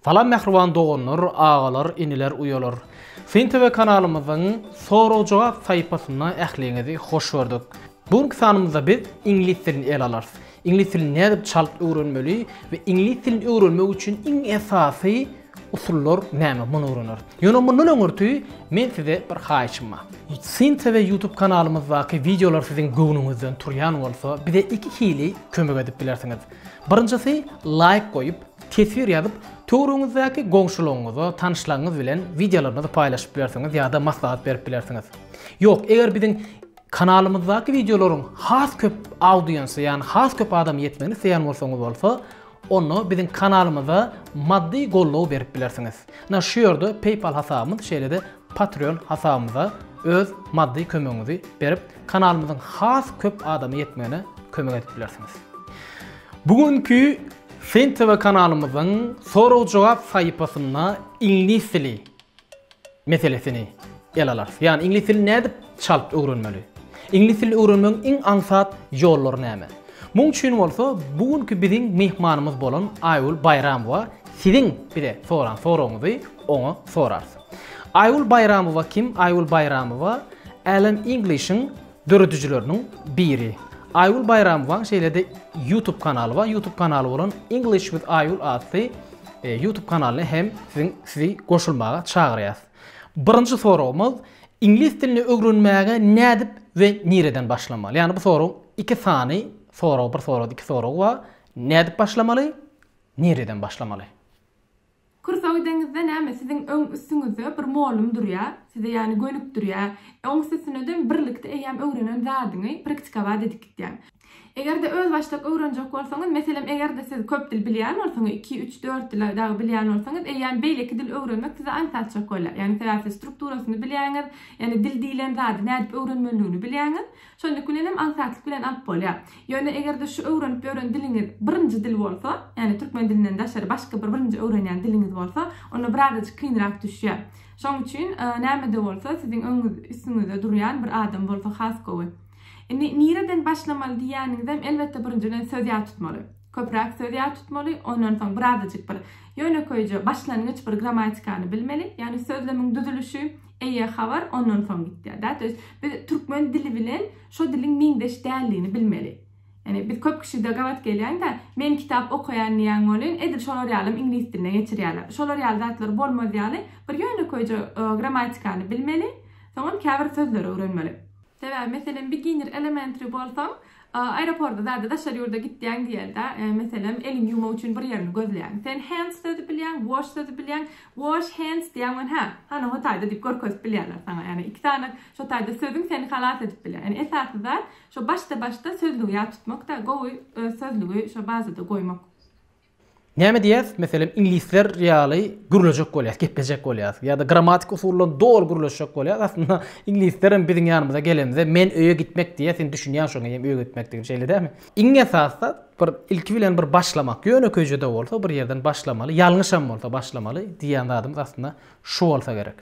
Salam mähriban doganlar, agalar, iniler, uýalar. Syn TV kanalymyzyň sorag-jogap saýypasyna ähliňizi hoş gördük. Bu günki sanymyzda biz iňlis dilini ele alarys. Iňlis dilini nädip çalt öwrenmeli we iňlis dilini öwrenmek üçin iň esasy usullar näme muny öwreneris. Ýöne mundan öňürti men size bir haýyşym bar. Syn TV YouTube kanalymyzdaky wideolar siziň göwnüňizden turýan bolsa, bize iki hili kömek edip bilersiňiz. Birinjisi laýk goýup, teswir ýazyp, töwrüňizdäki goňşularyňyza, tanyşlaryňyz bilen wideolaryňyzy paýlaşyp bilersiňiz ýa-da maslahat berip bilersiňiz. Ýok, eger biziň kanalymyzdaky wideolaryň has köp audiense, ýagny has köp adama ýetmegini isleýän bolsaňyz bolsa, onda biziň kanalymyza maddy goldaw berip bilersiňiz. Ynha şu ýerde PayPal hasabymyz, şeýle-de Patreon hasabymyza öz maddy kömegiňizi berip, Kanalymyzyň has köp adama ýetmegine kömek edip bilersiňiz. Bu günki Fin TV kanalymyzyň sorag-jogap saýypasynda iňlis dili meselesini ele alarys. Ýagny iňlis dilini nädip çalt öwrenmeli? Iňlis dilini öwrenmegiň iň aňsat ýollary näme? Muň üçin bolsa bu günki biziň myhmanymyz bolan Aýgül Baýramowa siziň bize soran soragyňyzy oňa sorarys. Aýgül Baýramowa kim? Aýgül Baýramowa Alan English-iň döredijileriniň biri. Aýgül Baýramowaň şeýle-de YouTube kanaly bar. YouTube kanaly bolan English with Aýgül atly YouTube kanalyna hem siziň sizi goşulmaga çagyrýas. Birinji soragymyz, iňlis dilini öwrenmäge nädip we nireden başlamaly? Ýagny bu soragyň iki sany soragy, bir soragda iki soragy bar. Nädip başlamaly? Nireden başlamaly? Kursow deňizde näme siziň öň üstüňizde bir mollum durýa size ýany gönükdirýä oňs üstüneden birlikde eýýäm öwrenen zadyňy praktikowat edip gitýäň. Egerde öz başdak öwrenjek bolsaňyz meselem egerde siz köp dil bilýän bolsaňyz iki üç dört dil dagy bilýän bolsaňyz eýýäm beýleki dil öwrenmek size aňsat açjak bolýar ýagny sebäpsiz strukturasyny bilýäňiz ýagny dil diýlen zady nädip öwrenmelidigini bilýäňiz Şonluk bilenem aňsatlyk bilen alyp bolýar. Ýöne eger-de şu öwrenip ýören diliňiz birinji dil bolsa, ýagny türkmen dilinden daşary başga bir birinji öwrenýän diliňiz bolsa, onda birazajyk kynrak düşýär. Şoň üçin näme-de bolsa siziň öňüňiz, üstüňizde durýan bir adam bolsa has gowy. Indi nireden başlamaly diýýäniňizem elbetde birinjiden söz ýat tutmaly. Köpräk söz ýat tutmaly, ondan soň birazajyk bir ýönekeýje başlangyç bir grammatikany bilmeli, ýagny sözlemiň düzülişi, Eýe, habar ondan soň gitýär da. To ýest, biz türkmen dili bilen şo diliň meňzeş däldigini bilmeli. Ýani biz köp kişide gabat gelýän-dä, men kitap okaýan diýýän welin, edil şolar ýalym iňlis diline geçirýärler. Şolar ýaly zatlar bolmaz ýaly, bir ýönekeýje grammatikany bilmeli, soňam käbir sözleri öwrenmeli. Sebäbi meselem biginir elementri bolsaň aeroporda zada daşary ýurda gitýäň diýelde meselem eliňi ýumak üçin bir ýerini gözleýäň sen hands sözi bilýäň wash sözi bilýäň wash hands diýýäň we hä hany ho taýda diýip görkezip bilýärler saňa ýagny iki sany şo taýda sözüň seni halas edip bilýär ýagny esasy zat şo başda başda sözlügi ýat tutmak da gowy öz sözlügi şo bazada goýmak. Näme diýýäs, meselem, iňlisler ýaly gürlejek bolýas, geplejek bolýas ýa-da grammatik usuldan doly gürleşjek bolýas. Aslynda, iňlislerem biziň ýanymyza gelenimizde, men öýe gitmek diýýä, sen düşünýäň şoňa hem öýe gitmekdigini, şeýle dälmi? Iň esasda, bir ilki bilen bir başlamak, ýönekeýje-de bolsa bir ýerden başlamaly, ýalňyşam bolsa başlamaly diýýän zadymyz aslynda şu bolsa gerek.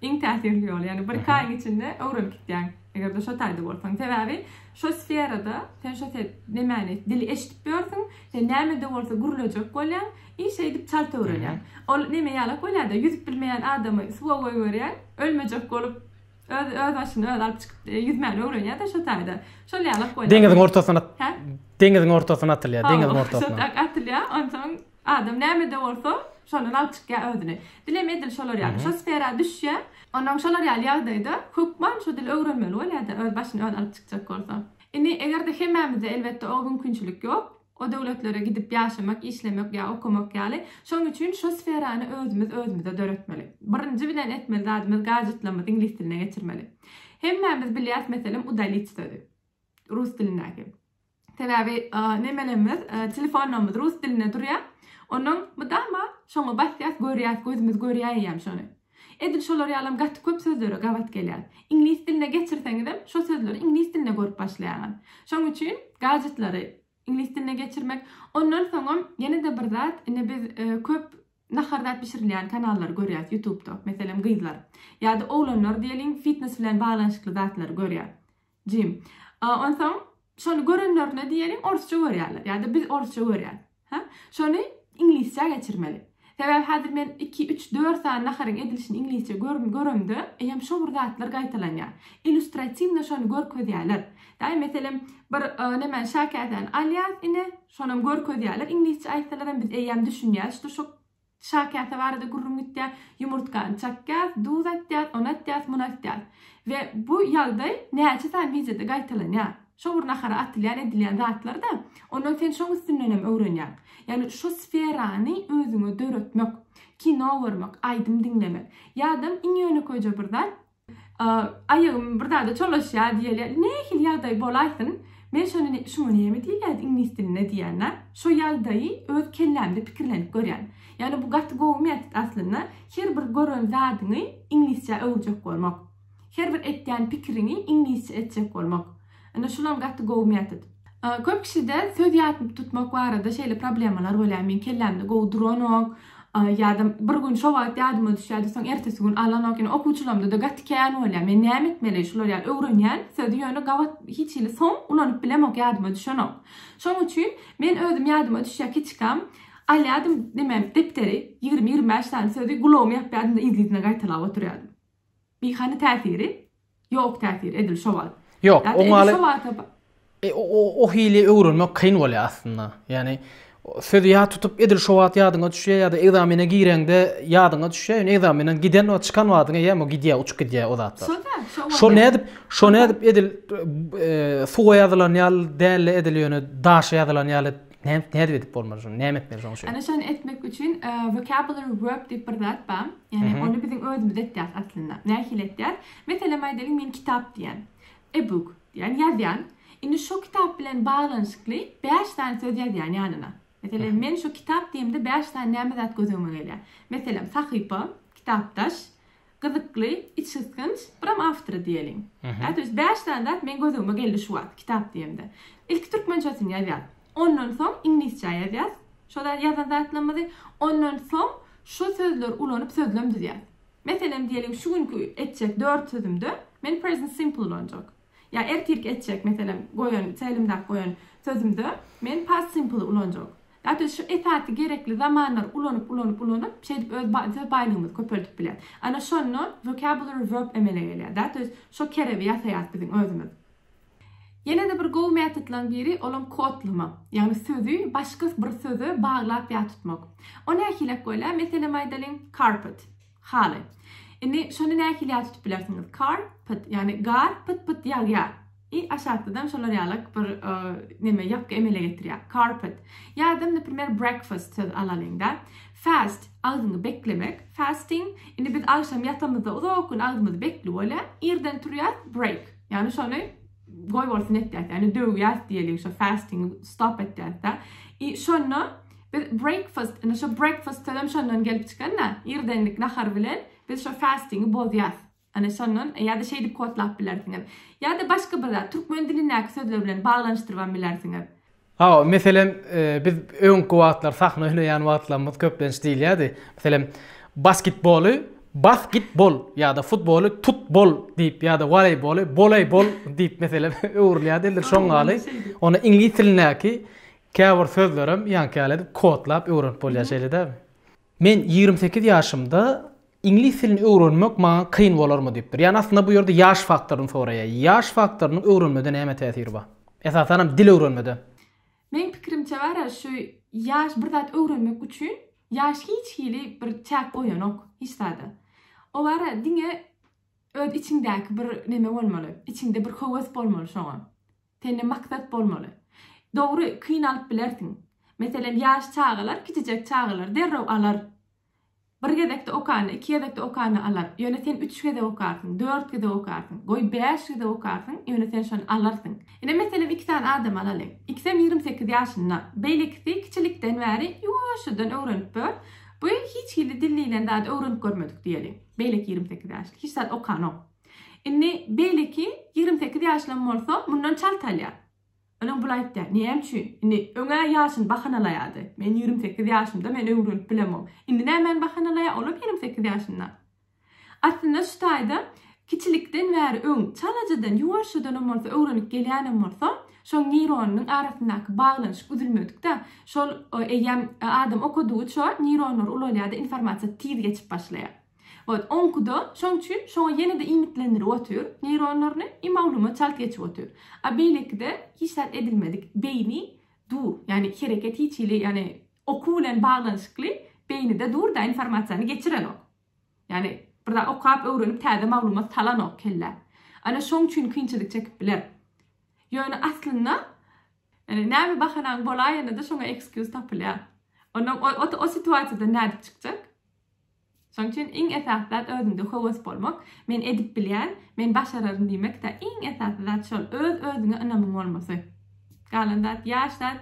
Iň täsirli ýoly, ýagny bir-iki aýyň içinde öwrenip gitýäň, eger-de şo taýda bolsaň. Sebäbi şo sferada sen şo se nemäni, dili eşidip ýörsüň, sen näme-de bolsa gürlejek bolýaň i şeýdip çalt öwrenýäň. Ol neme ýalak bolýar-da, ýüzüp bilmeýän adamy suwa goýberýäň, ölmejek bolup, öz öz başyny özi alyp çykyp, ýüzmäni öwrenýär-de şo taýda. Şol ýalak bolýar. Deňiziň ortasyna, deňiziň ortasyna atylýar, deňiziň ortasyna. Şo tak atylýar, onsoň. Adam nämede bolsa, şondan alyp çykýar özüni. Dilem edil şolar ýaly, şo sfera düşýär. Onnoň şolar ýaly ýagdaýda hökman şu dili öwrenmeli bolýar-da, öz başyny özi alyp çykjak bolsa. Indi, eger-de hemmämizde, elbetde, o mümkinçilik ýok, o döwletlere gidip ýaşamak, işlemek ýa okamak ýaly. Şonuň üçin şo sferany özümiz özümize döretmeli. Birinji bilen etmeli zadymyz, gajetlerimizi iňlis diline geçirmeli. Hemmämiz bilýäris, meselem, udalit sözi, rus dilindäki. Sebäbi nemelerimiz, telefonlarymyz rus dilinde durýa. Onuň mydama şoňa basýas, görýäs, gözümiz görýä eýýäm şony. Edil şolar ýalam gaty köp sözlere gabat gelýär. Iňlis diline geçirseňizem şo sözleri iňlis dilinde görüp başlaýaňyz. Şoň üçin gadjetlary iňlis diline geçirmek. Ondan soňam ýene-de bir zat, indi biz köp nahar zat bişirilýän kanallary görýäs ýutubda. Meselem gyzlar ýa-da oglanlar diýeliň fitnes bilen baglanyşykly zatlary görýär. Jim. A, onsoň, şony görenlerine diýeliň, orsça görýärler. Ýa-da biz orsça görýäs. Hä? Şony iňlisçä geçirmeli. Sebäbi häzir men iki, üç, dört sany naharyň edilişini iňlisçe göremde, eýýäm şo bir zatlar gaýtalanýar. Illýustratiwno şony görkezýärler. Daýy, meselem, bir nemäni, şäkäsäni alýas ine, şonam görkezýärler, iňlisçe aýtsalar hem biz eýýäm düşünýäs, şo, Çaý käse barada gürrüň gitýär. Ýumurtgany çakýas, duz atýas, un atýas, mun atýas. We bu ýagdaý näçe sany wideoda gaýtalanýar. Şo bir nahara atylýan edilýän zatlar-da. Ondan sen şoň üstündenem öwrenýäň. Ýagny şo sferany özüňe döretmek. Kino görmek, aýdym diňlemek. Ýa-da iň ýönekeýje bir zat, Aýagym bir zada çolaşýar diýeli. Nähili ýagdaý bolaýsyn, men şony şuňa näme diýilýärdi iňlis dilinde diýýän-ä. Şo ýagdaýy öz kellämde pikirlenip görýän. Ýagny bu gaty gowy metod aslynda. Her bir gören zadyňy iňlisçä öwürjek bolmak. Her bir etýän pikiriňi iňlisçe etjek bolmak. Ine şulam gaty gowy metod. Köp kişide söz ýatyp tutmak barada şeýle problemalar bolýar, meň kellämde gowy duranok, ýa-da bir gün şo wagt ýadyma düşýärdi, soň ertesi gün alanok, ýene okuwçylarymda-da gaty kän bolýar. Men näme etmeli? Şular ýaly öwrenýän sözi ýöne gabat hiç hili soň ulanyp bilemok, ýadyma düşenok. Şoň üçin men özüm ýadyma düşýä kiçikam alýadym, näme, depderi, ýigrimi, ýigrimi bäş sany sözi gulagym ýapýadym-da yzly-yzyna gaýtalap oturýadym. Biýhany täsiri, ýok täsir edil şo wagt. Ýok, Ýa-da edil oňaly- şo wagta ba- E, o- o- o hili öwrenmek kyn bolýar aslynda. Ýagny, o sözi ýat tutup, edil şo wagt ýadyňa düşýär ýa-da ekzamene gireňde ýadyňa düşýär. Ýöne ekzamenden giden wagt, çykan wagtyň eýýäm o gidýär, uçup gidýär o zatlar. Şo-da, şo wagt. Şo nädip, şo nädip edil e, suwa ýazylan ýaly däl-de, edil ýöne daşa ýazylan ýaly Ne nerw edip bolmaz şunu? Näme etmeli şoň üçin? Ana şony etmek üçin e, vocabulary work diýip bir zat bar. Ýani ony biziň özümiz etýäris aslynda. Nähili etýäris? Meselem aýdalyň men kitap diýen. E book diýen ýazýan. Indi şu kitap bilen baglanyşykly 5 sany söz ýazýan ýanyna. Meselem men şu kitap diýemde 5 sany näme zat göz öňüme gelýär? Meselem sahypa, kitapdaş, Gyzykly, içgysgynç, biram awtory diýeliň. Ätiwis bäş sany zat meň gözügime geldi şu wagt, kitap diýemde. Ilki türkmençesini ýazýas. Ondan soň iňlisçä ýazýas şo zat ýazan zatlarymyzy. Ondan soň şo sözleri ulanyp sözlem düzýäs. Meselem diýeliň şu günki etjek dört sözümde men present simple ulanjak. Ýa ertirki etjek, meselem, goýan, telimdäki goýan sözümde men past simple ulanjak. Dat biz şu esasy gerekli zamanlary ulanyp, ulanyp, ulanyp, şeýdip öz ba, söz baýlygymyzy köpeldip bilýäs. Ana şonda vocabulary verb emele gelýär. Dat biz şo kerebi ýasaýas biziň özümiz. Ýene-de bir gowy metodlaryň biri, olam kodlama. Ýagny sözi başga bir söze baglap ýa tutmak. O nähilek bolýar? Meselem aýdalyň, carpet. Haly. Indi şony nähili ýat tutup bilersiňiz? Car, pyt, ýagny gar pyt-pyt ýagýar. I aşakdadan şolar ýalak bir neme ýapgy emele getirýär. Carpet. Ýa-da, naprimer, breakfast söz alalyň-da. Fast, agzyňy beklemek. Fasting. Indi biz agşam ýatamyzda uzak gün agzymyz bekli bolýar. Irden turýas, break. Ýagny şony goýbolsun etýäs, ýagny döwýäs diýeliň şo fasting stop etýäs-de. I şonda biz breakfast, indi şo breakfast sözem şondan gelip çykan-da, irdenlik nahar bilen biz şo fastingi bozýas. Ana şondan ýa-da şeýdip kodlap bilersiňiz. Ýa-da başga bir zat, türkmen dilindäki sözler bilen baglanyşdyrybam bilersiňiz. Hawa, meselem, biz öňki wagtlar sahna hüneýän wagtlarymyz köplenç diýilýärdi. Meselem, basketboly Bas-git-bol ýa-da futboly Tut-bol diýip ýa-da woleýboly Boleý-bol diýip meselem öwrülýärdi. Indi şoň ýaly ony iňlis dilindäki käbir sözlerem ýaňky ýaly edip kodlap öwrenip bolýar, şeýle dälmi? Men ýigrimi sekiz ýaşymda iňlis dilini öwrenmek maňa kyn bolarmy diýipdir. Ýani aslynda bu ýerde ýaş faktoryny soraýar. Ýaş faktorynyň öwrenmede näme täsiri bar? Esasanam dil öwrenmede. Meň pikirimçe bara şu ýaş bir zat öwrenmek üçin ýaş hiç hili bir çäk goýanok hiç zada. O bara diňe öz içiňdäki bir neme bolmaly. Içiňde bir höwes bolmaly şoňa. Sende maksat bolmaly. Dogry, kynalyp bilersiň. Meselem, ýaş çagalar, kiçijek çagalar derrew alar. Bir gezekde okanda, iki gezekde okanda alar. Ýöne sen üç gezek okarsyň, dört gezek okarsyň, goý, bäş gezek okarsyň, ýöne sen şony alarsyň. Ine, meselem, iki sany adamy alalyň. Ikisem ýigrimi sekiz ýaşynda. Beýlekisi kiçilikden bäri ýuwaşjadan öwrenip ör. Bu hiç hili dil diýlen zady öwrenip görmedik diýeli. Beýleki ýigrimi sekiz ýaşly. Hiç zat okanok. Indi beýleki ýigrimi sekiz ýaşlam bolsa mundan çalt alýar. Olam bul aýtýar, näme üçin? Indi öň-ä ýaşyny bahanalaýardy. Men ýigrimi sekiz ýaşymda men öwrenip bilemok. Indi nämäni bahanalaýar, olam ýigrimi sekiz ýaşynda. Aslynda şu taýda kiçilikden bäri öň çalajadan, ýuwaşjadanam bolsa öwrenip gelýänem bolsa, şoň neýronynyň arasyndaky baglanyşyk üzülmedik-dä. Şol eýýäm adam okadygyça neýronlar ulalýar-da, informasiýa tiz geçip başlaýar. Ot, oňkuda, şoň üçin şoňa ýene-de iýmitlendirip otyr, neýronlaryny, i maglumat çalt geçip otyr. A beýlekide hiç zat edilmedik, beýni dur, ýagny hereket hiç hili, ýagny okuw bilen baglanyşykly beýnide dur-da, informasiýany geçirenok. Ýagny bir zat okap, öwrenip täze maglumat salanok kellä. Ana şoň üçin kynçylyk çekip biler. Ýöne aslynda, ýagny näme bahanaň bolaýanda-da şoňa ekskýuz tapylýar. Onda o, o, o situasiýadan nädip çykjak? Şonuň üçin iň esasy zat özüňde höwes bolmak, men edip bilýän, men başararyn diýmekdä, iň esasy zat şol, öz özüňe ynamyň bolmasy. Galan zat ýaş zat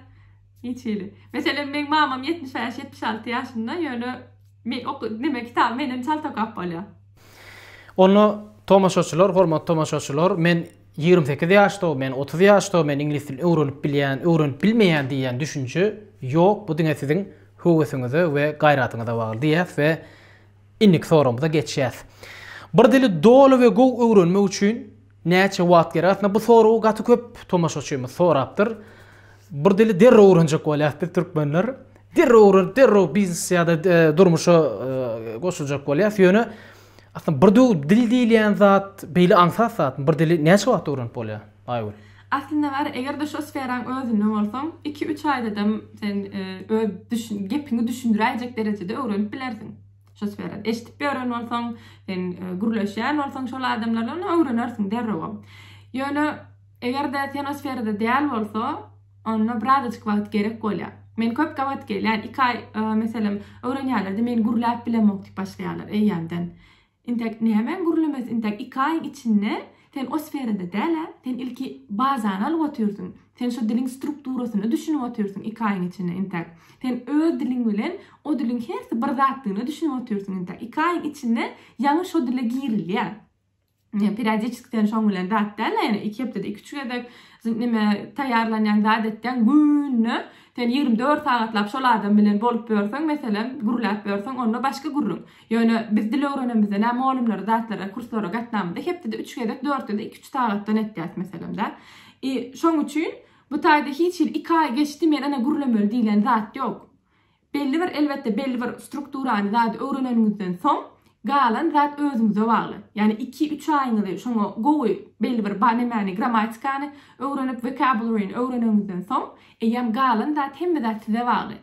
hiç hili. Meselem meň mamam ýetmiş bäş, ýetmiş alty ýaşynda, ýöne men ok neme kitaby menden çalt okap bolýar. Onda tomaşaçylar, hormatly tomaşaçylar, men Ýigrimi sekiz ýaşda men, otuz ýaşda men iňlis dilini öwrenip bilýän, öwrenip bilmeýän diýýän düşünje ýok, bu diňe siziň höwesiňize we gaýratyňyza bagly diýýäs we indiki soragymyza geçýäs. Bir dili doly we gowy öwrenmek üçin näçe wagt gerek? Aslynda bu soragy gaty köp tomaşaçymyz sorapdyr. Bir dili derrew öwrenjek bolýas biz türkmenler. Derrew öwrenip, derrew biznes ýa-da durmuşa goşuljak bolýas. Ýöne Aslynda bir döw dil diýilýän zat beýle aňsat zatmy? Bir dili näçe wagtda öwrenip bolýar, Aýgül? Aslynda bar, eger-de şu sferaň özünde bolsaň, iki-üç aýdadam sen öz düşün, gepiňi düşündiräýjek derejede öwrenip bilersiň. Şu sfera, eşidip ýören bolsaň, sen gürleşýän bolsaň şol adamlar bilen, öwrenersiň derrewem. Ýöne eger-de sen o sferada däl bolsa, Onda birazajyk wagt gerek bolýar. Men köp gabat gelýän, iki aý, meselem, öwrenýänlerde meni gürläp bilemok diýip başlaýarlar eýýämden. Intek nämäň gürlemesi, intek iki aýyň içinde sen o sferada däl-ä, sen ilki bazany alyp otyrsyň, sen şo diliň strukturasyna düşünip otyrsyň iki aýyň içinde intek. Sen öz diliň bilen o diliň hersi bir zatdygyna düşünip otyrsyň intek. Iki aýyň içinde ýaňy şo dile girilýär. periodiçiskden şoň bilen zat däl-de, ýöne iki hepdede iki-üç gezek neme taýýarlanýan zat etseň, günde sen ýigrimi dört sagatlap şol adam bilen bolup ýörseň, meselem, gürläp ýörseň, onda başga gürrüň. Ýöne biz dil öwrenemizde nä mugallymlara zatlara, kurslara gatnamyzda hepdede üç gezek, dört gezek iki-üç sagatdan etýäs meselem-dä. I, şoň üçin bu taýda hiç hili iki aý geçdi, men ene gürlemeli diýlen zat ýok. Belli bir, elbetde, belli bir strukturany, zady öwreneniňizden soň, galan zat özüňize bagly. Ýagny iki-üç aýyňyzy şoňa gowy belli bir ba nemäni, grammatikany öwrenip, vocabulary-ni öwreneniňizden soň, eýýäm galan zat, hemme zat size bagly.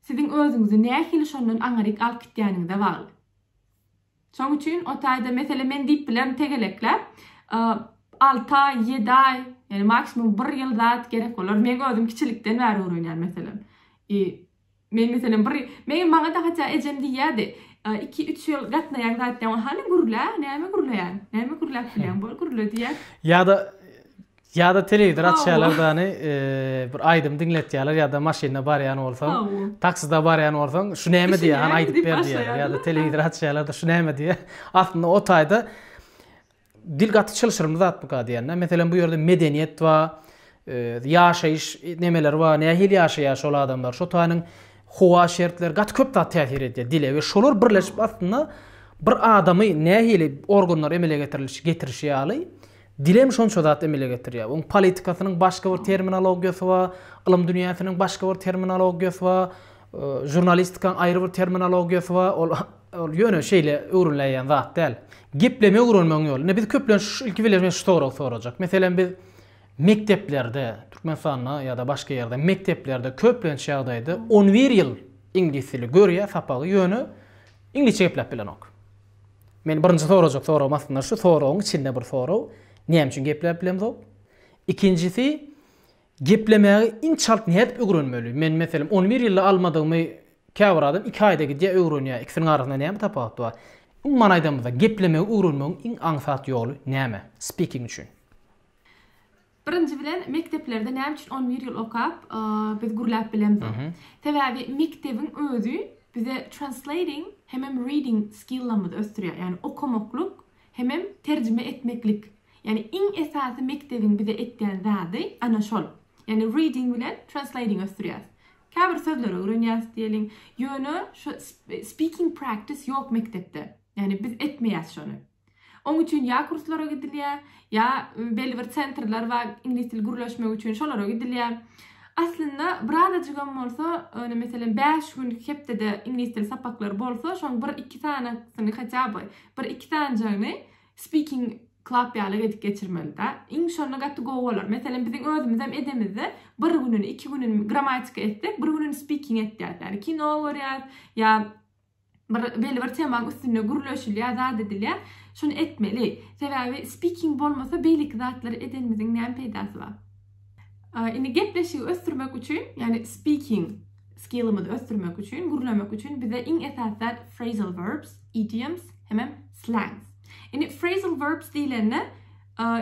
Siziň özüňizi nähili şondan aňryk alyp gitýäniňize bagly. Şoň üçin o taýda, meselem, men diýip bilerin tegelekläp, alty aý, ýedi aý, ýani maksimum bir ýyl zat gerek bolar. Meň özüm kiçilikden bäri öwrenýän, meselem. I men, meselem, bir, meň, maňa-da hatda ejem diýýärdi, iki, üç ýyl gatnaýan zat diýýär, hany gürlä, näme gürleýäň, näme gürläp bilýäň, bol gürle diýýär. Ýa-da Ýada telewizor açýalar dany bir aýdym diňletýaler ýada maşynda barýan bolsaň taksida barýan bolsaň şu näme diýýär hany aýdyp ber diýýär ýada telewizor açýalar da şu näme diýýär aslynda o taýda dil gaty çylşyrymly zatmyka diýende meselem bu ýerde medeniýet wa ýaşaýyş nemeler wa nähili ýaşaýar şol adamlar şo taýynyň howa şertleri gaty köp zat täsir edýär dile we şolar birleşip aslynda bir adamy nähili organlar emele getiriliş getirişi ýaly Dil hem şonça zat emele getirýär. Oň politikasynyň başga bir terminologiýasy bar, ylym dünýäsiniň başga bir terminologiýasy bar, žurnalistikaň aýry bir terminologiýasy bar. Ol ol ýöne şeýle öwrüläýýän zat däl. Geplemegi öwrenmegiň ýoly. Indi biz köplenç ilki bilen men şu soragy sorajak. Meselem biz mekdeplerde, Türkmenistanda ýa-da başga ýerde mekdeplerde köplenç ýagdaýda on bir ýyl iňlis dili görýär sapagy, ýöne iňlisçe gepläp bilenok. Meniň birinji sorajak soragym aslynda şu soragyň içinde bir sorag, näme üçin gepläp bilemzok? Ikinjisi, geplemägi inçalt nädip ögrenmeli? Men meselem on bir ýylda almadygymy käbir adam iki aýda gidýär ögrenýär. Ikisiniň arasynda näme tapawut bar? Umuman aýdamyzda, geplemegi ögrenmegiň iň aňsat ýoly näme? Speaking üçin. Birinji bilen mekdeplerde näme üçin on bir ýyl okap biz gürläp bilemzok? Sebäbi mekdebiň özi bize translating hemem reading skilllerimizi ösdürýär. Ýagny okamaklyk hemem terjime etmeklik. Ýagny iň esasy mekdebiň bize etýän zady ana şol. Ýagny reading bilen translating ösdürýäs. Käbir sözleri öwrenýäs diýeliň. Ýöne şu speaking practice ýok mekdepde. Ýagny biz etmeýäs şony. Oň üçin ýa kurslara gidilýär, ýa belli bir sentrler bar, iňlis dili gürleşmek üçin şolara gidilýär. Aslynda birazajygam bolsa, ýöne meselem bäş gün hepdede iňlis dili sapaklary bolsa, şoň bir-iki sanysyny hatýa by, bir-iki sanjygyny Speaking Club ýaly edip geçirmelidä. Iň şonda gaty gowy bolar. Meselem biziň özümizem edemizde, bir gününi, iki gününi grammatika etsek, bir gününi speaking etýäs. Ýagny kino görýäs, ýa bir belibir temaň üstünde gürleşilýär, zat edilýär. Şuny etmeli. Sebäbi speaking bolmasa beýleki zatlary edenimiziň näme peýdasy bar? Indi gepleşigi ösdürmek üçin, ýagny speaking skillimizi ösdürmek üçin, gürlemek üçin bize iň esasy zat phrasal verbs, idioms hemem slangs. Indi phrasal verbs diýlende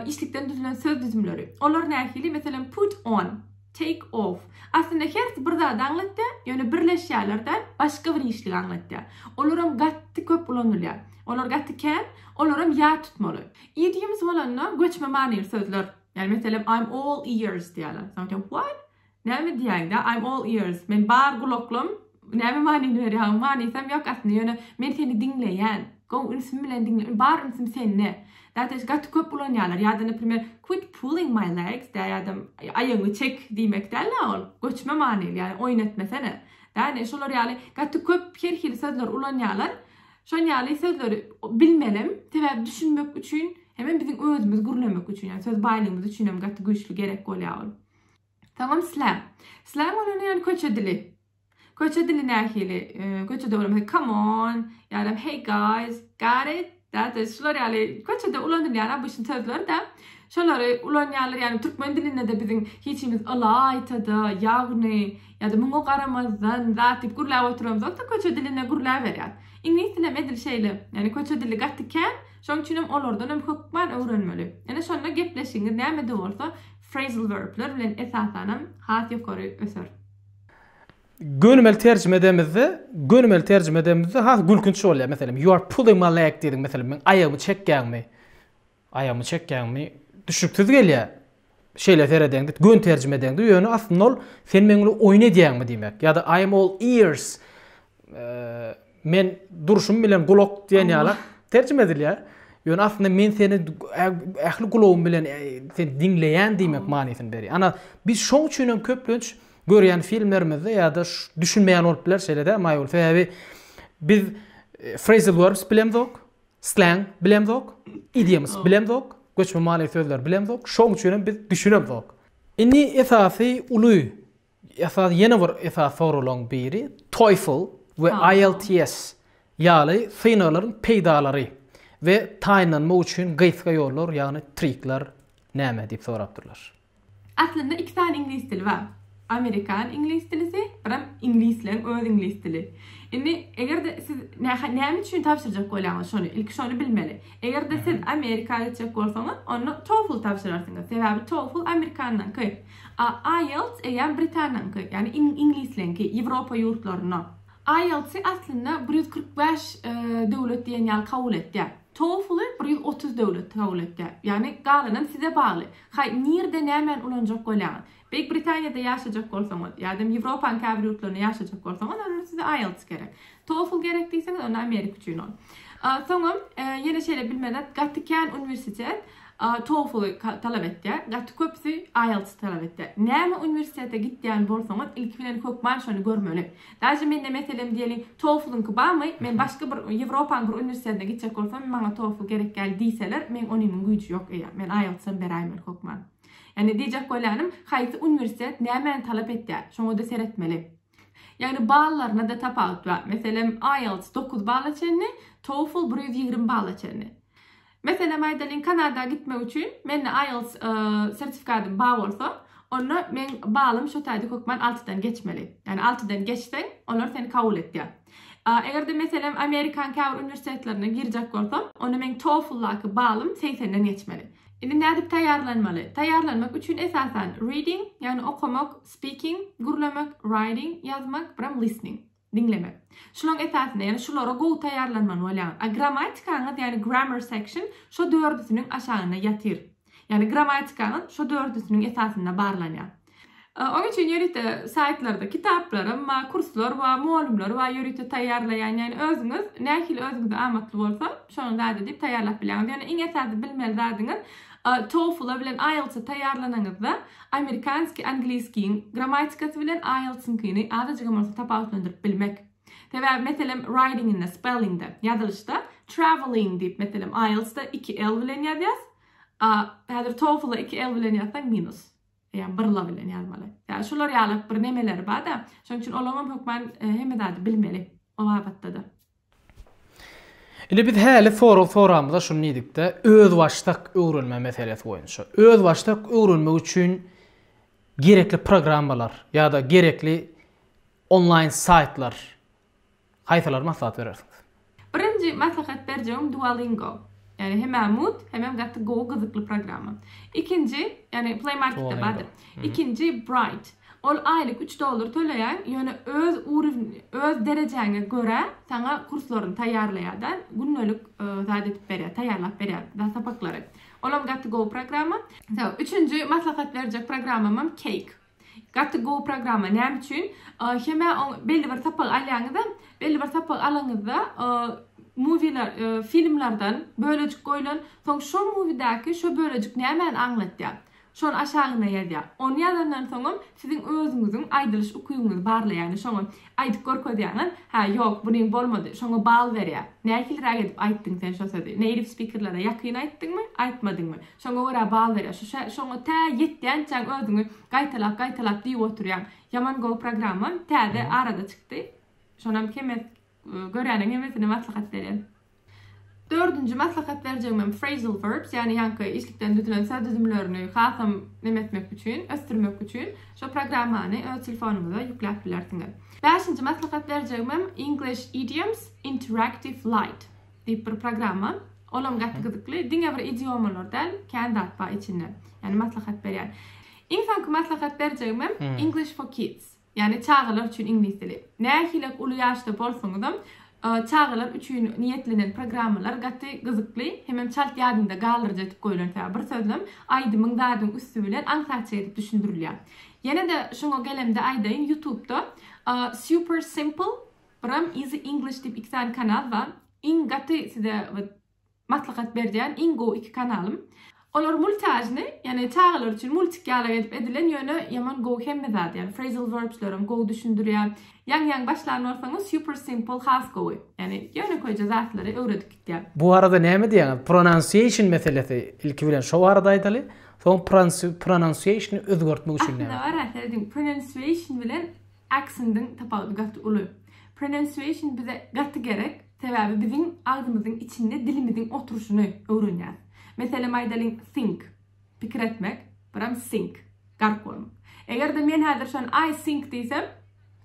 işlikden düzülen söz düzümleri. Olar nähili? Meselem put on. Take off. Aslynda hersi bir zady aňlatýar, ýöne birleşýärler däl, başga bir işligi aňlatýar. Olaram gaty köp ulanylýar. Olar gaty kän, olaram ýat tutmaly. Idioms bolanda göçme manyly sözler. Ýagny meselem I'm all ears diýýärler. Soň aýtýar, What? Näme diýýäň-dä? I'm all ears. Men bar gulaklym, Näme manyny berýäň? Manysam ýok aslynda, ýöne men seni diňleýän. Gowy ünsüm bilen diňleýän. Bar ünsüm sende. Dadaş, gaty köp ulanýarlar. Ýa-da, naprimer, quit pulling my legs, dä, ýa-da, aýagyňy çek diýmek däl-ä ol. Göçme manyly, ýa, oýun etmesene. Däne, şolar ýaly gaty köp her hili sözleri ulanýarlar. Şon ýaly sözleri bilmelem, sebäbi düşünmek üçin hemem biziň özümiz gürlemek üçin, ýa söz baýlygymyz üçinem gaty güýçli gerek bolýar ol. Salam slam. Slam bolany yani köçe dili. Köçe dili nähili? Köçe dili come on, yani hey guys, got it? That is şular yani köçe de ulanylýan bu sözler de. Şolary ulanýarlar yani türkmen dilinde de biziň hiçimiz alayta da ýagny ya da muňa garamazdan zat dip gürläp oturamyz ýokda köçe dilinde gürläp berýär. İngiliz dili medil şeýle. Yani köçe dili gaty kän. Şoň üçin hem olardan hem kökman öwrenmeli. Ene şonda gepleşigiňiz näme de bolsa Phrasal verbler bilen esasanam has ýokary öser. Gönümel terjime edemizde, gönümel terjime edemizde has gülkünç bolýar. Meselem, you are pulling my leg diýdiň, meselem, meň aýagymy çekýäňmi? Aýagymy çekýäňmi? Düşüksiz gelýär. Şeýle seredeňde, gön terjime edeňde, ýöne aslynda ol sen meň bilen oýun edýäňmi diýmek. Ýa-da I am all ears. Men durşum bilen gulak diýen ýala terjime edilýär. Ýöne aslynda men seni ähli gulagym bilen seni diňleýän diýmek manysyny berýär. Ana, biz şoň üçin hem köplenç görýän filmlerimizde ýa-da düşünmeýän bolup biler şeýle-de Maýol. Sebäbi biz phrasal verbs bilemzok, slang bilemzok, idioms bilemzok, göçme many sözleri bilemzok. Şoň üçin hem biz düşünemzok. Indi esasy uly Esasy ýene bir esasy soraglaryň biri TOEFL we IELTS ýaly synaglaryň peýdalary we taýynlanmak üçin gysga ýollar ýagny trikler näme diýip sorapdyrlar. Aslynda iki sany iňlis dili bar. Amerikan iňlis dilisi, biram iňlisleň öz iňlis dili. Indi eger-de siz näme üçin tabşyrjak bolýaňyz şony, ilki şony bilmeli. Eger-de siz Amerika gitjek bolsaňyz, onda TOEFL tabşyrarsyňyz. Sebäbi TOEFL Amerikandan. IELTS eýýäm Britaniýanyňky, ýagny iňlisleňki, Ýewropa ýurtlarynda. IELTS-i aslynda bir ýüz kyrk bäş döwlet diýen ýaly kabul etýär. TOEFL-y bir ýüz otuz döwlet kabul etýär. Ýagny galanam size bagly. Haý, nirde nämäni ulanjak bolýaňyz? Beýik Britaniýada ýaşajak bolsaňyz ýa-da Ýewropaň käbir ýurtlarynda ýaşajak bolsaňyz, onda size IELTS gerek. TOEFL gerek diýseňiz onda Amerika üçin ol. Soňam ýene şeýle bilmedik gaty kän uniwersitet TOEFL talap etýär. Gaty köpüsi IELTS talap etýär. Näme uniwersitete gitýän bolsaňyz ilki bilen hökman şony görmeli. Daže mende meselem diýeli TOEFL-yňky barmy? Men başga bir Ýewropanyň bir uniwersitetine gitjek bolsam maňa TOEFL gerek däl diýseler meň onymyň güýji ýok eýýäm. Men IELTS-am beräýmeli hökman. Ýagny diýjek bolýanym haýsy uniwersitet nämäni talap etýär şoňada seretmeli. Ýagny ballaryna-da tapawut bar. Meselem, IELTS dokuz balla çenli, TOEFL bir ýüz ýigrimi balla çenli. Meselem aýdalyň, Kanada gitmek üçin mende IELTS sertifikadym bar bolsa, onda meň ballym şo taýda hökman altydan geçmeli. Ýagny altydan geçseň, olar seni kabul etýär. Eger-de meselem Amerikanyň käbir uniwersitetlerine girjek bolsam, onda meň TOEFL-daky ballym segsenden geçmeli. Indi nädip taýýarlanmaly? Taýýarlanmak üçin esasan reading, ýagny okamak, Speaking, gürlemek, writing, ýazmak, biram listening, diňlemek. Şulaň esasynda, ýagny şulara gowy taýýarlanman bolýar. A grammatikaňyz, ýagny grammar section, şo dördüsiniň aşagynda ýatyr. Ýagny grammatikaňyz şo dördüsiniň esasynda barlanýar. Oň üçin ýörite saýtlarda kitaplarym bar, kurslar bar, mugallymlar bar ýörite taýýarlaýan. Ýagny özüňiz nähili özüňize amatly bolsa, şonuň zady diýip taýýarlap bilýäňiz. Ýöne iň esasy bilmeli zadyňyz TOEFL-a bilen IELTS-a taýýarlanyňyzda, amerikanskiý angliskiň grammatikasy bilen IELTS-yňkyny azajygam bolsa tapawutlandyryp bilmek. Sebäbi, meselem, writing-inde, spelling-de, ýazylyşda, travelling diýip, meselem, IELTS-da iki l bilen ýazýas, a häzir TOEFL-a iki l bilen ýazsaň minus. Ýa bir la bilen ýazmaly. Ýa şular ýaly bir nemeleri bar-da, şonuň üçin olaňam hökman hemme zady bilmeli o babatda-da. Indi biz häli sorag soramyza şuny diýdikde, özbaşdak öwrenme meselesi boýunça. Özbaşdak öwrenmek üçin gerekli programmalar ýa-da gerekli onlaýn saýtlar haýsylary maslahat berersiňiz? Birinji maslahat berjegim Duolingo. Ýani hemä mut hemem gaty gowy gyzykly programma. Ikinji ýani play marketde bardyr. Ikinji bright. Ol aýlyk üç dollar töleýäň ýöne öz urwin öz derejäňe görä saňa kurslaryny taýýarlaýada gündelik zat edip berýär taýýarlap berýär zat sapaklary. Olam gaty gowy programma. Üçünji maslahat berjek programmamam cake. Gaty gowy programma näme üçin hemä belli bir sapak alýaňyza belli bir sapak alaňyzda muwiler filmlerden bölejik goýulan soň şo muwidäki şo bölejik nämäni aňlatýa şony aşagyna ýazýa ony ýazandan soňam siziň özüňiziň aýdylyş ukybyňyzy barlaýa ýagny şoňa aýdyp görkezýäňiz hä ýok buny bolmady şoňa bal berýä nähiliräk edip aýtdyň sen şo sözi neýrif spikerlere ýakyn aýtdyňmy aýtmadyňmy Şoňa görä bal berýär. Şu şä, şoňa tä ýetýänçäň özüňi gaýtalap, gaýtalap diýip oturýaň. Ýaman gowy programma. Täze arada çykdy. Şonam hemes görýäniň hemesine maslahat berýän. Dördünji maslahat berjegimem phrasal verbs, ýagny ýaňky işlikden düzülen söz düzümlerini hasam neme etmek üçin, ösdürmek üçin şo programmany öz telefonyňyza ýükläp bilersiňiz. Bäşinji maslahat berjegimem English idioms, interactive light. Diýip bir programma. Olam gaty gyzykly. Diňe bir idiomalar däl, kän zat bar içinde. Ýani maslahat berýän. Iň soňky maslahat berjegimem English for kids. Ýani çagalar üçin iňlis dili. Nähilek uly ýaşda bolsaňyzam, çagalar üçin niýetlenen programmalar gaty gyzykly, hemem çalt ýadynda galdyryjy edip goýlan. Sebäbi bir sözlem aýdymyň zadyň üsti bilen aňsatça edip düşündirilýär. Ýene-de şoňa gelemde aýdaýyn, Youtubda Super Simple Bram easy English diýip iki sany kanal bar. Iň gaty size wet maslahat berýän iň gowy iki kanalym. Olar multiajny, ýagny çagalar üçin multik ýaly edip edilen ýöne ýaman gowy hemme zady ýagny phrasal verbslerem gowy düşündirýär. Ýaňy ýaňy başlan bolsaňyz super simple has gowy. Ýagny ýönekeýje zatlary öwredip gitýär. Bu barada näme diýýäňiz? Pronunciation meselesi ilki bilen şo barada aýdaly. Soň pronunciation özgertmek üçin näme etmeli? Aslynda bar-a serediň pronunciation bilen Aksendiň tapawudy gaty uly. Pronunciation bize gaty gerek, sebäbi biziň agzymyzyň içinde dilimiziň oturyşyny öwrenýäs. Meselem aýdalyň think, pikir etmek, buram sink, gark bolmak. Eger-de men häzir şony I think diýsem,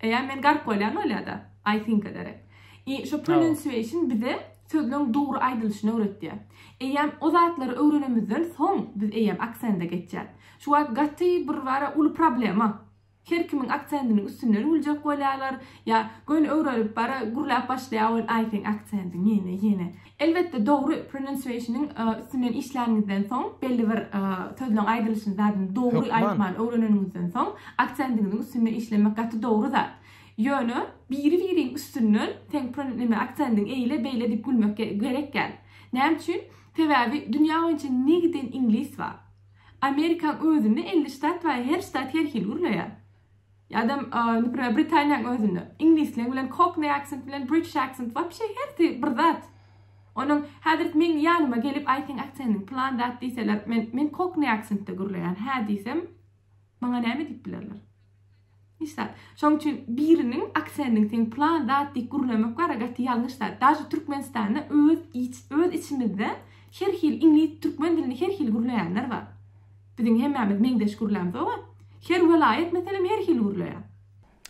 eýýäm men gark bolýan bolýar-da, I think ederek. I şo pronunciation bize sözleň dogry aýdylyşyny öwretýär. Eýýäm o zatlary öwrenemizden soň biz eýýäm aksende geçýäs. Şu wagt gaty bir bara uly problema. Her kimiň aksendiniň üstünden güljek bolýarlar, ýa göni öwrenip bara gürläp başlaýar ol aýfeň aksendin ýene ýene. Elbetde dogry pronunciation-yň üstünden işläniňizden soň belli bir sözleň aýdylyşyny zadyny dogry aýtmany öwreneniňizden soň aksendiňiziň üstünde işlemek gaty dogry zat. Ýöne biri biriň üstünden seň pron neme aksendiň eýle beýle diýip gülmek gerek däl. Näme üçin? Sebäbi dünýä boýunça ne giden iňlis bar. Amerikaň özünde elli ştat bar, her ştat her hili gürleýär. Ýa-da, neprimýer, Britaniýaň özünde. Iňlisleň bilen cockney accent bilen british accent wapşe hersi bir zat. Onuň häzir meň ýanyma gelip aýt seň aksendiň plan zat diýseler, men, men cockney accentde gürleýän hä diýsem, Maňa näme diýip bilerler? Hiç zat. Şonuň üçin biriniň aksending sen plan zat diýip gürlemek bar, gaty ýalňyş zat. Daşy Türkmenistanda öz iç, öz içimizde her hili iňlis, türkmen dilini her hili gürleýänler bar. Biziň hemmämiz meňzeş gürlämz oba. Her welaýat meselem her hili gürleýär.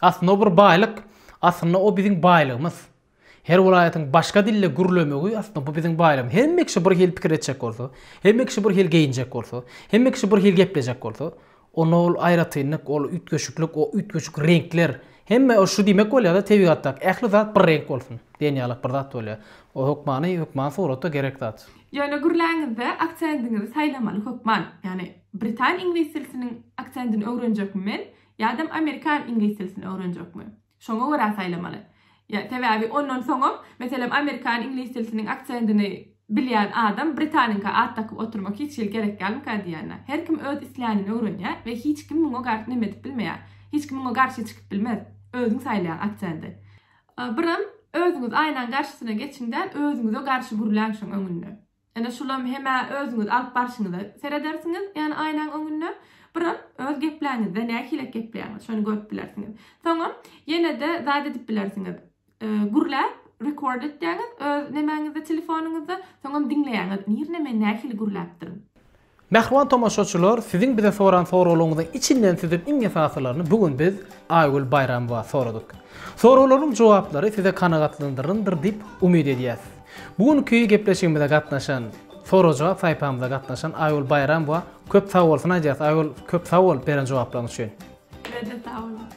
Aslynda o bir baýlyk. Aslynda o biziň baýlygymyz. Her welaýatyň başga dilde gürlemegi aslynda bu biziň baýram. Hemme kişi bir hili pikir etjek bolsa, hemme kişi bir hili geýinjek bolsa, hemme kişi bir hili geplejek bolsa, onda ol aýratynlyk, ol üýtgeşiklik, o üýtgeşik reňkler, hemme şu diýmek bolýar-da, tebigatdaky ähli zat bir reňk bolsun diýen ýalyk bir zat bolýar. O hökmany, hökman suratda gerek zat. Ýöne gürläňizde aksendiňizi saýlamaly hökman. Ýagny britan iňlis dilsiniň aksendini öwrenjekmi men ýadam amerikan iňlis dilsini öwrenjekmi? Şoňa görä saýlamaly. Ýa, sebäbi ondan soňam, meselem, amerikan, iňlis dilsiniň aksendini bilýän adam britanyňka at dakyp oturmak hiç hili gerek dälmika diýýänä. Her kim öz islänini öwrenýär we hiç kim muňa gar neme edip bilmeýär. Hiç kim muňa garşy çykyp bilmez. Özüň saýlaýaň aksendi. Biram özüňiz aýnaň garşysyna geçiň-de, özüňize garşy gürläň şoň öňünde. Ene şulam hem-ä özüňiz alyp barşyňyza seredersiňiz, ýani aýnaň öňünde, biram öz gepläňizde nähilek gepleýäňiz, şony görüp bilersiňiz. Soňam ýene-de zat edip bilersiňiz, gürläp rekord etýäňiz öz nemäňizde, telefonyňyzda, soňam diňleýäňiz, nirde men nähili gürläpdirin. Mähriban tomaşaçylar siziň bize soran soraglaryňyzyň içinden süzüp iň esasylaryny bu gün biz Aýgül Baýramowa soradyk. Soraglaryň jogaplary size kanagatlandyryndyr diýip umyt edýäs. Bu günki gepleşigimize gatnaşan, sorag-jogap saýpamyza gatnaşan Aýgül Baýramowa köp sag bolsun aýdýas. Aýgül köp sag bol beren jogaplaryň üçin. Sizede sag boluň.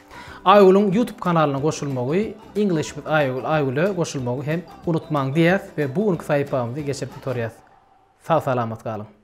Aýgülüň YouTube kanalyna goşulmagy English with Aýgül Aýgüle goşulmagy hem unutmaň diýýäs we bu günki saýpamyzy geçirip gutarýas. Sag salamat galyň.